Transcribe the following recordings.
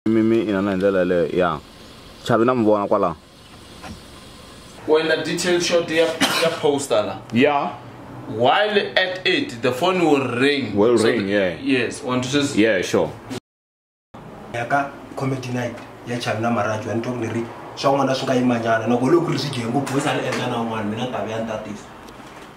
mi mi inana hi ndlela yaleyo ya chavi na mi vona kwalaho u endla detail shot ya ya poster la ya while at it the phone will ring will so ring yeah yes on to just yeah sure ya ka comedy night ya chavi na marajo ya ni twa ku ni ri swa n'wana swi nga yimanyana loko loko ri swi dye ngopfu u sale endla na un'wana mina ni ta ve ya ni tatisa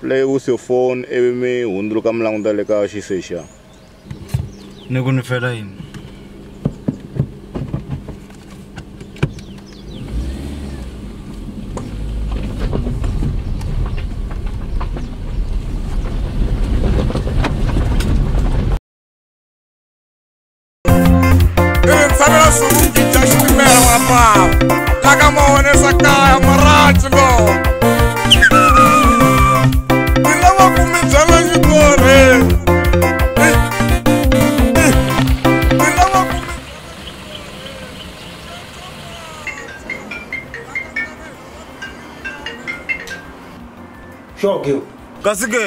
Play with your phone ivi mi hundzuluka mi languta le ka xisexa. Ni ku ni fela yini? Insanela swivungi bya xitimela mapapa la ka ma honesa kaya maraci lo ni lava ku mi byela xitori ni lava ku mi Sure, girl. kasi ke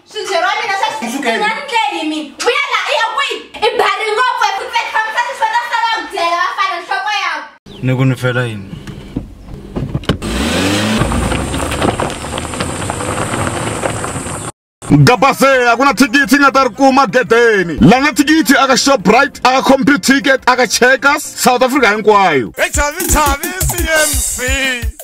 swintshe ra mina sasekeimi vuya la i ya kwihi i bari ngopfu eku tlehamsani swa na sala ku byela va fana nhloko yako ni ku ni fela yini gabase a ku na thikithi nga ta ri kuma gedeni la na thikithi aka shoprite aka computer ticket aka checkers south africa hinkwayo hi chavi chavi cmc